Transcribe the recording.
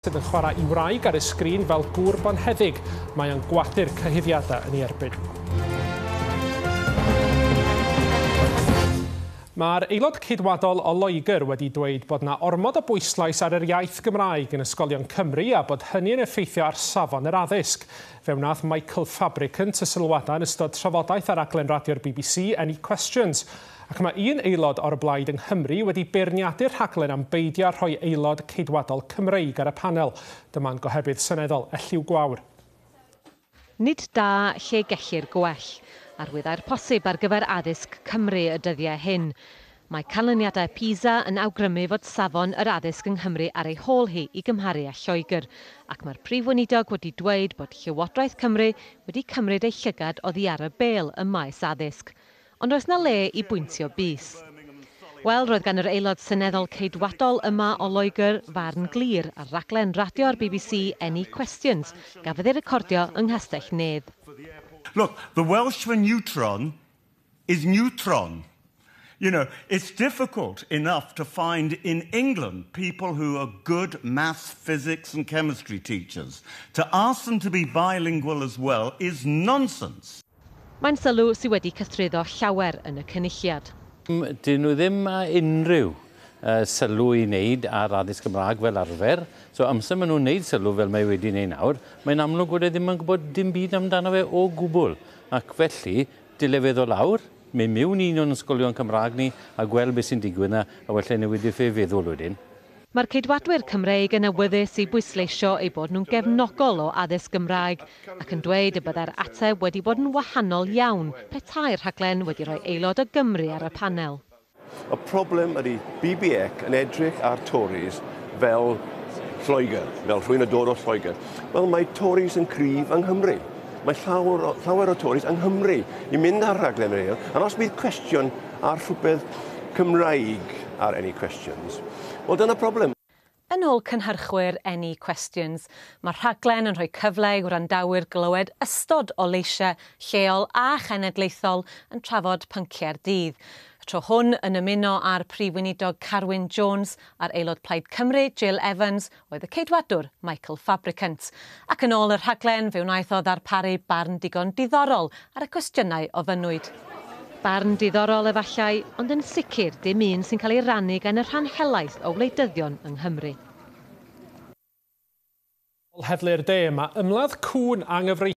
sydd yn chwarae'i wraig ar y sgrin fel gŵr bonheddig, mae o'n gwathu'r cyhuddiadau yn ei erbyn. Mae'r aelod ceidwadol o Loegr wedi dweud bod yna ormod o bwyslais ar yr iaith Gymraeg yn ysgolion Cymru a bod hynny yn effeithio ar safon yr addysg. Fe wnaeth Michael Fabricant y sylwadau yn ystod trafodaeth ar raglen radio'r bbc Any Questions. Ac mae un aelod o'r Blaid yng Nghymru wedi beirniadu'r rhaglen am beidio â rhoi aelod Ceidwadol Cymreig ar y panel. Dyma'n gohebydd seneddol Elliw Gwawr. Nid da lle gellir gwell. Arwyddau'r posib ar gyfer addysg Cymru y dyddiau hyn. Mae canlyniadau PISA yn awgrymu fod safon yr addysg yng Nghymru ar ei hôl hi i gymharu â Lloegr, ac mae'r Prif Weinidog wedi dweud bod Llywodraeth Cymru wedi cymryd ei llygad oddi ar y bêl ym maes addysg. Ond oes 'na le i bwyntio bys? Wel, roedd gan yr Aelod Seneddol Ceidwadol yma o Loegr farn glir ar raglen radio'r bbc Any Questions, gafodd ei recordio yng Nghastell Nedd. Look, the Welsh for neutron is neutron. You know, it's difficult enough to find in England people who are good maths, physics and chemistry teachers. To ask them to be bilingual as well is nonsense. Mae'n sylw sydd wedi cythruddo llawer yn y Cynulliad. Dyn nhw ddim â unrhyw sylw i wneud ar addysg Gymraeg fel arfer, so amser maen nhw'n wneud sylw fel mae wedi wneud nawr, mae'n amlwg bod e ddim yn gwybod dim byd amdano fe o gwbl, ac felly, dyle fe ddod lawr, mynd miwn i un o'n ysgolion Cymraeg ni a gweld beth sy'n digwydd 'na, a wella i newid ei feddwl wedyn. Mae'r Ceidwadwyr Cymreig yn awyddus i bwysleisio eu bod nhw'n gefnogol o addysg Gymraeg ac yn dweud y byddai'r ateb wedi bod yn wahanol iawn petai'r rhaglen wedi rhoi aelod o Gymru ar y panel. Y problem ydy BBEC yn edrych ar Tories fel Lloegr, fel rhywun yn dod o Lloegr. Wel, mae Tories yn cryf yng Nghymru. Mae llawer o, llawer o Tories yng Nghymru i mynd ar rhaglen yr eil, ac os bydd cwestiwn A rhywbeth Cymraeg ar Any Questions? Wel, dyna problem. Yn ôl cynhyrchwyr Any Questions, mae'r rhaglen yn rhoi cyfle i wrandawyr glywed ystod o leisiau lleol a chenedlaethol yn trafod pynciau'r dydd. Y tro hwn yn ymuno â'r Prif Weinidog Carwyn Jones a'r Aelod Plaid Cymru, Jill Evans, oedd y Ceidwadwr Michael Fabricant, ac yn ôl y rhaglen fe wnaeth o ddarparu barn digon diddorol ar y cwestiynau ofynnwyd. Barn diddorol efallai, ond yn sicr dim un sy'n cael ei rannu gan y rhan helaeth o wleidyddion yng Nghymru. Heddlu'r De, mae ymladd cŵn anghyfreithlon.